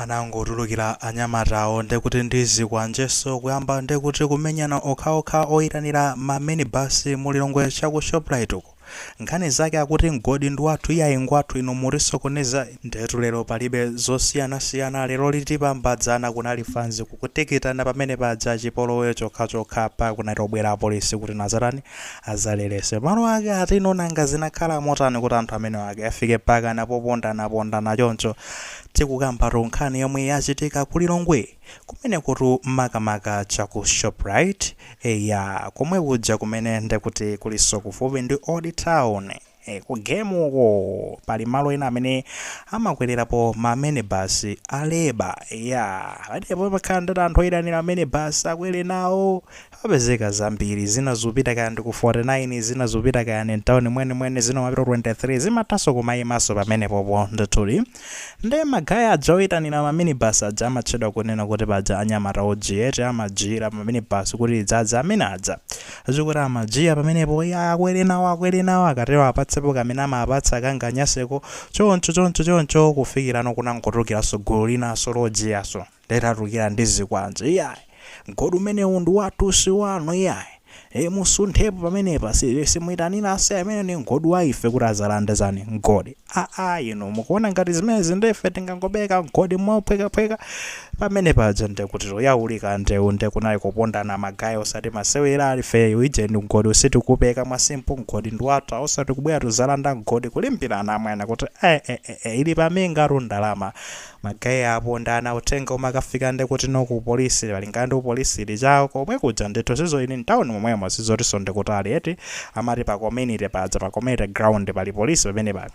Anangotulukira anyamatawo ndekuti ndi zikwanjenso kuyamba ndekuti kumenyana okhaokha oyitanira ma minibus mu Lilongwe cha ku Shoprite uko. Nkhani zake akuti mgodi ndi wathu iyayi ngwathu inu mutisokoneza ndetu lero palibe zosiyanasiyana lero lipambana dzana kunali fanzi kukutikitana pamene paja chipolowe chokhachokha mpaka kunangobwera apolisi kuti adzatani Azalelese malo ake atinu nanga zinakhala motani kuti anthu amenewa ake afike pakana popondanapondana choncho tikukambatu nkhani yomwe yachitika ku Lilongwe kumeneku tu makamaka cha ku shoprite eya komwe kuja kumene ndekuti kuliso kufupi ndi old town eh ku game uko pali malo ena amene amakwelerapo ma minibus eya iya pa depot pamakhala ndati anthu oyitanira minibus akwere nawo apezekako zambiri zina zopita kaya ndi ku 49 zina zopita kaya ndi mtawuni mwenimweni zina zimapita ku 23 zimathanso kumayimanso pamenepopo ndithudi Nde ma guy aja oyitanira ma minibus aja amatchedwa kunena kuti paja anyamata ojiya eti amajiyira ma minibus kuti idzadze amene aja ndikuti amajiya pamenepo iya akwere nawo akwere nawo akatero apatsepo kamene amapatsa kanganyaseko choncho choncho choncho kufikirano kunangotulukiranso gulu linanso lojiyanso Litatulukira ndi zikwanje iyayi mgodi umenewu ndi wathu si wanu iyayi ee musunthepo pamenepa si simuitanira asa umene ndi mgodi wa ife kuti adzalande chani mgodi aa inu mukuona ngati zimenezi nde ife tingangopereka mgodi mophwekaphweka pamene paja nde kuti no yabuka ndeu nde kunali kupondana ma guy osati masewera ife ujeni mgodi sitingapereke mwa simple mgodi ndi wathu a osati kubwera kudzalanda mgodi kulimbirana amwene kuti ee ee ee ili pamingatu ndalama Ma guy apondana uthenga umakafika nde kuti ku police malingana ndi kuti police ili cha komwe kuja ndithu sizoti ili mtown momwemo sizotiso ndi kutali eti amati pa community paja pa community ground pali police pamenepa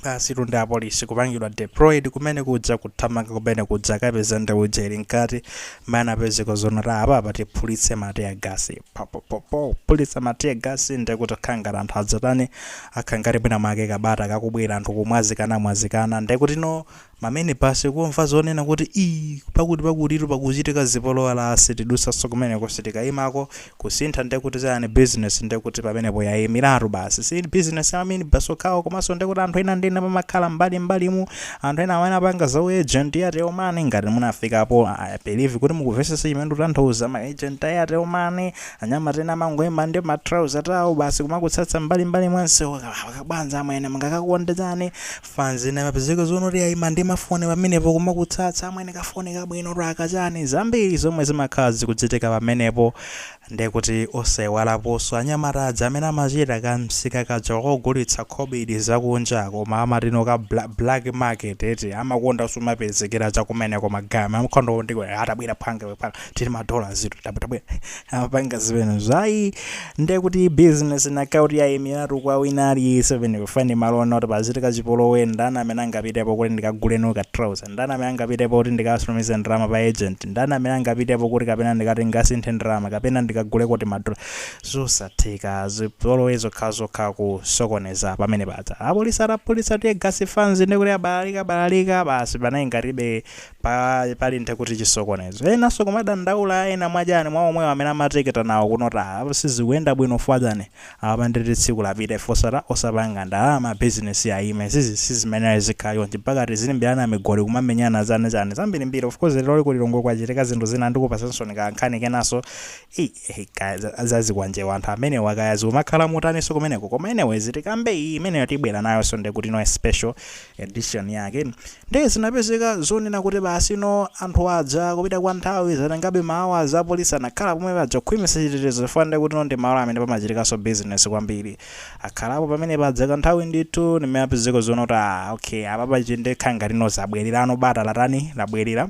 basitu ndi apolice kupangidwa deployed kumene kuja kuthamanga kumene kuja akapeza ndewu ija ili mkati mmene anapezeka zoona ta apa apa tiphulitse ma tear gas pa po po po phulitsa ma tear gas nde kuti kukhala ngati anthu adzatani Akhala ngati mwina mwake kabata kakubwera anthu kumwazikana mwazikana ndekutino ma mini bus kumva zonena kuti ii pakuti pakutitu pakuchitika zipolowe aa sitidutsanso kumeneko sitikayimako kusintha ndekuti chayani business ndekuti pamenepo yayimilatu basi si business ya ma mini bus okhawo komanso ndekuti anthu ena ndi ena pamakhala mbali mbalimu anthu ena amene apanga za u agent ya TNM ngati munafikapo I believe kuti mukuvesesa chimene ndikutanthauza ma agent ya TNM Anyamata ena amangoima ndi ma trouser tawo basi kumakutsatsa mbali mbali mwa msewu kabwanja amwene mungakakondetu chani fans ina imapezeka zonoti yaima ndi mafoni pamenepo kumakutsatsa amwene kafoni kabwino twaka chani zambiri zomwe zimakhala zikuchitika pamenepo ndekuti osaiwalaponso anyamata aja amene amachita ka msika kaja kogulitsa khobidi zakunja koma amatino ka bla, black market eti amakondanso kumapezekera chakumeneko magama mkhondo ndiwe atabwera mphwanga iwe mphwanga tili madola ifetu tabwera amapanga zimene zija ndekuti business ndekuti yayimiratu kwa wina aliyense pamenepo fa ndi malo oona kuti pachitika chipolowe ndani amene angapitepo kuti ndikagule no ka trouser ndani amene angapitepo kuti ndikatumize ndalama pa agent ndani amene angapitepo kuti kapena ndikati ndikasinthe ndalama kapena ndikagule kuti madola zosatheka zipolowe zokhazokha kusokoneza pamene paja apolisi atapopa tear gas fanzi ndekuti abalalika balalika basi panali ngatibe pa pali ndekuti chisokonezo enanso kumadandaula ena mwachani mwa omwewo amene amatekita nawo kuona kuti apa sizikuyenda bwino fwa chani apa ndekuti tsiku lapita ife osata osapanga ndalama business yaima zizi si mmene izikhala chonchi mpaka tizilimbirana migoli kumamenyana chani chani zambirimbiri of course lero ku Lilongwe kwachitika zinthu zina ndikupatsaninso ka nkhani kenanso ei eh, kaya za- zazikwanje anthu amenewa kaya zikumakhala motaninso kumeneko koma anyway tikambe iyi imeneyo tibwera nayonso ndekuti no special edition yake nde zinapezeka zonena kuti basi no anthu aja kupita kwa nthawi zatengabe ma hours apolisi anakhala pomwe paja kukhwimitsa chitetezo chifukwa ndekuti no ndi malo amene pamachitikanso business kwambiri akhalapo pamene paja kanthawi ndithu nde mene zapezeka zonena kuti ah okay apa pachita ndekha ngati no zabwererano bata latani labwerera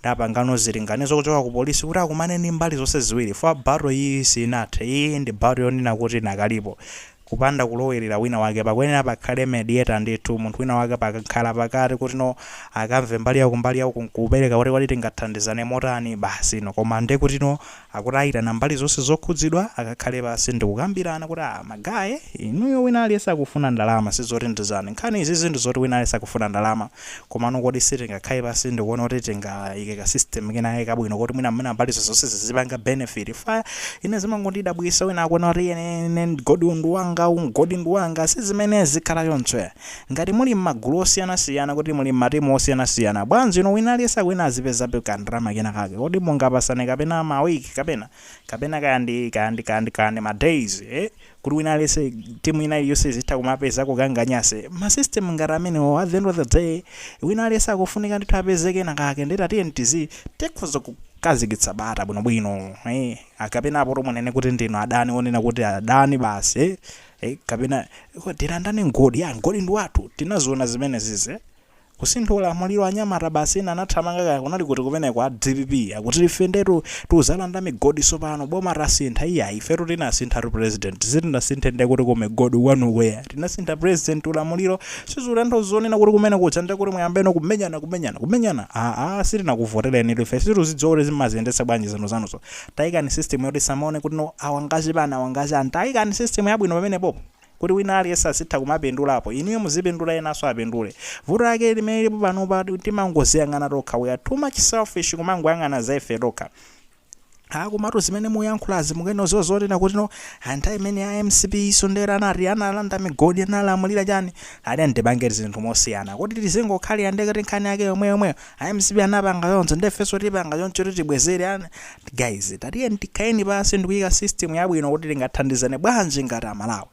nde apangano zilinganizo kuchoka ku polisi kuti akumane ndi mbali zonse ziwiri fa battle iyi sinathe iyi ndi battle yonena kuti ikadalipo kupanda kulowelera wina wake pakuyenera pakhale mediator ndithu munthu wina wake pa mkhalapakati kuti no akamve mbali yauku mbali yauku nkupereka kuti kodi tingathandizane motani basi no koma ndekuti no akuti aitana mbali zonse zokhudzidwa akakhale pansi ndikukambirana kuti ah ma guy inuyo wina aliyense akufuna ndalama sizoti ndi chani nkhani izizi ndizoti wina aliyense akufuna ndalama Komano kodi sitingakhale pansi ndikuona kuti tingaike ka system kenakake kabwino koti mwina mwina mbalizo zonse zizipanga benefit chifukwa ine zimangondidabwitsa wina akuona kuti ine ine mgodiwu ndi wanga uwu mgodi ndi wanga si mmene zizikhala choncho ya ngati muli mmagulu osiyanasiyana kuti muli mmatimu osiyanasiyana bwanji inu wina aliyense akuyenera azipezabe ka ndalama kenakake kodi mungapatsane kapena ma week kapena kapena kaya ndi kaya ndi kaya ndi kaya ndi ma days eh kuti wina aliyense timu ina iliyonse izitha kumapeza ka kangachepe ma system ngati amenewo at the end of the day wina aliyense akufunika ndithu apeze kena kake nde ah tiyeni tizi tikhoza kukhazikitsa bata bwinobwino eh, kapena apo to munene kuti ndinu adani onena kuti adani basi eh, eh, kapena "Ko, tilandane mgodi ya mgodi ndi wathu tinaziona zimene zize Kusintha ulamuliro anyamata basi ena anathamanga kaya kunali kuti kumeneko a dpp akuti ife ndetu tuzalanda migodi sipano boma lasintha iyayi ifetu tinasinthatu president sitinasinthe ndekuti kumigodi kwanuko iya tinasintha president ulamuliro sizikutanthauza zonena kuti kumene kwacha ndekuti muyambeno kumenyana kumenyana kumenyana aa sitinakuvoterenitu ife situzidziwa kuti zimaziyendetsa bwanji zinthu zanuzo tayikani system yoti samaone kuti no awa ngachani awa ngachani tayikani system yabwino pamenepopo kuti wina aliyense azitha kumapindulapo, inuyo muzipindula enanso apindule. Vuto lake limene lilipo panopa timangoziyang'ana tokha, we are too much selfish kumangoyang'ana za ife tokha. Ah, komatu zimene muyankhulazi mukuyenera kudziwa zonena kuti no ah, nthawi imene a mcp isomdera anati analanda migodi analamulira chani ali angopangati zinthu mosiyana kodi tizingokhalira ndekuti nkhani yake yomwe yomweyo a mcp anapanga choncho nde ifenso tipanga choncho kuti tibwezere an guys tatiyeni tikhaleni pansi ndikuyika system yabwino kuti tingathandizane bwanji ngati amalawi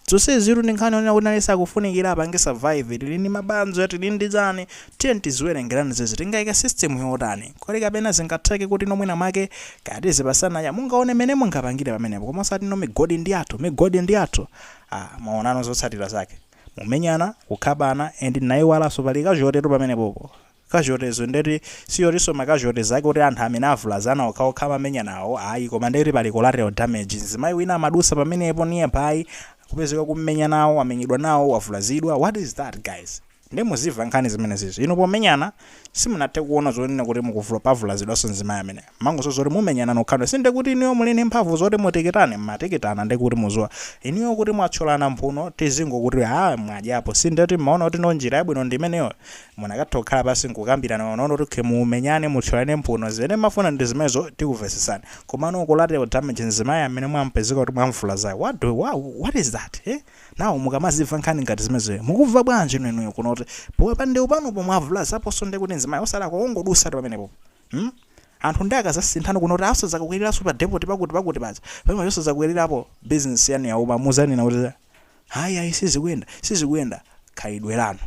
zonseziro ndi nkhani yonena kuti aliyense akufunikira apange survive tili ndi mabanja tili ndi chani tiyeni tiziwerengerani zizi tingayike system yotani kodi kapena zingatheke kuti no mwina mwake kaya tizipasana ya mungaone mmene mungapangire pamenepo koma osati no migodi ndi yathu migodi ndi yathu ah mwaonano zotsatira zake mumenyana, kukhapana and ndinayiwalaso pali casualty tu pamenepopo, casualties ndeti sikutiso ma casualties ake oti anthu amene avulazana okhaokha amamenyanawo ayi koma ndeti pali collateral damage mzimayi wina amadusa pamenepo nearby kupezeka akummenya nawo wamenyedwa nawo wavulazidwa what is that guys? Nde mudziwa nkhani zimenezizi inu pomenyana simunathe kuona zonena kuti mukuvula pavulazidwaso mzimayi amene. Mmangoona zoti mumenyana nokhanu sindekuti inuyo muli ndi mphamvu zoti mutikitane mmatikitana ndekuti muziwa inuyo kuti mwathyolana mphuno tizingokuti aah mwadyapo sindeti mmaona kuti no njira yabwino ndiimeneyo munakatha kukhala pansi nkukambirana koma unaona kuti okay mumenyane muthyolane mphuno zimene mmafuna ndizimenezo tikuvesesani komano collateral damage mzimayi amene mwampezeka kuti mwamvulazayo what what is that eh now mukamazimva nkhani ngati zimenezoyo mukumva bwanjino inuyo kunena kuti popanga ndewu panupo mwavulazaponso ndekuti mzimayi osalakwa wongodusatu pamenepopo mm anthu nde akazasinthano kunena kuti asazakakwelelaso pa depoti pakuti pakuti paja pamenepo osazakwelelapo business yanu yauma muzanena kuti hayi ayi sizikuyenda sizikuyenda khalidwe lanu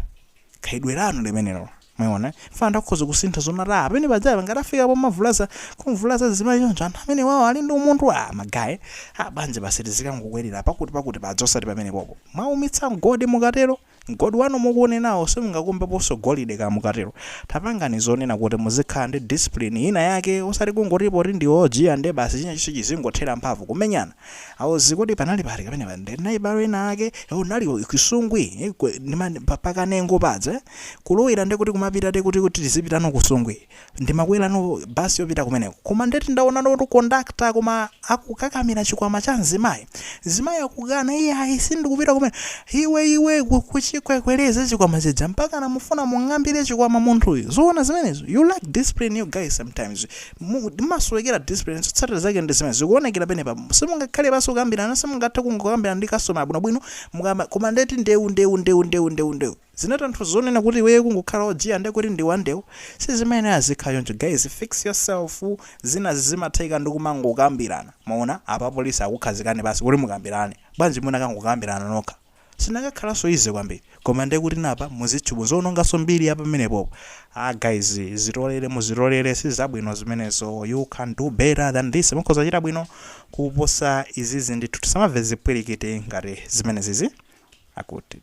khalidwe lanu limenelo mwaona funa akhoza kusintha zoona ati amene pajaya ngati afika pomavulaza kumvulaza zimayi choncho anthu amene wawo ali ndi umunthu a magaye abanje basi tizikangokwerera pakuti pakuti paja osati pamene popo mwaumitsa mgodi mukatero Mgodi wanu mukuunenawo simungakumbeponso golide kaya mukatero tapangani zonena kuti muzikhala ndi discipline ina yake osati kungoti poti ndiwe ojiya nde basi chinachonse chizingothera mphamvu kumenyana aa uzi kodi panali pati kapena ndinayiwala ena ake kunali kusungwi eh, kwe- ndi mani- pa- pakanengo paja eh? kulowera nde kuti kumapita te kuti kuti tizipitano kusungwi Ndimakwerano basi yopita kumeneko koma ndeti ndaonano kuti conductor koma akukakamira chikwama cha mzimayi. Mzimayi akukana iye ayi sindikupita kumeneko. Iwe iwe kuchikwekwereza chikwama chija mpakana mufuna mung'ambire chikwama munthuyu. Zoona zimenezo? You lack discipline you guys sometimes. Mumasowekera discipline zotsatira zake ndi zimenezo. Zikuonekera penepa. Simungakhale pansi kukambirana simungathe kungokambirana ndi customer bwinobwino mukama koma ndeti ndewu ndewu ndewu ndewu ndewu ndewu. Zinatanthuza zonena kuti iweyo kungokhala ojiya nde kuti ndi wandewu sizimayenera zizikhala choncho guys fix yourself zinazi zimatheka ndi kumangokambirana mwaona apa apolisi akukhazikeni pansi kuti mukambirane bwanji munakangokambirana nokha zinakakhalanso easy kwambiri koma nde kuti napa muzitchu muziononganso mbiri ya pamenepopo ah guys zitolele muzitolele sizabwino zimenezo you can do better than this mukhoza kuchita bwino kuposa izizi ndithu tisamamve zipwirikiti ngati zimenezizi akuti.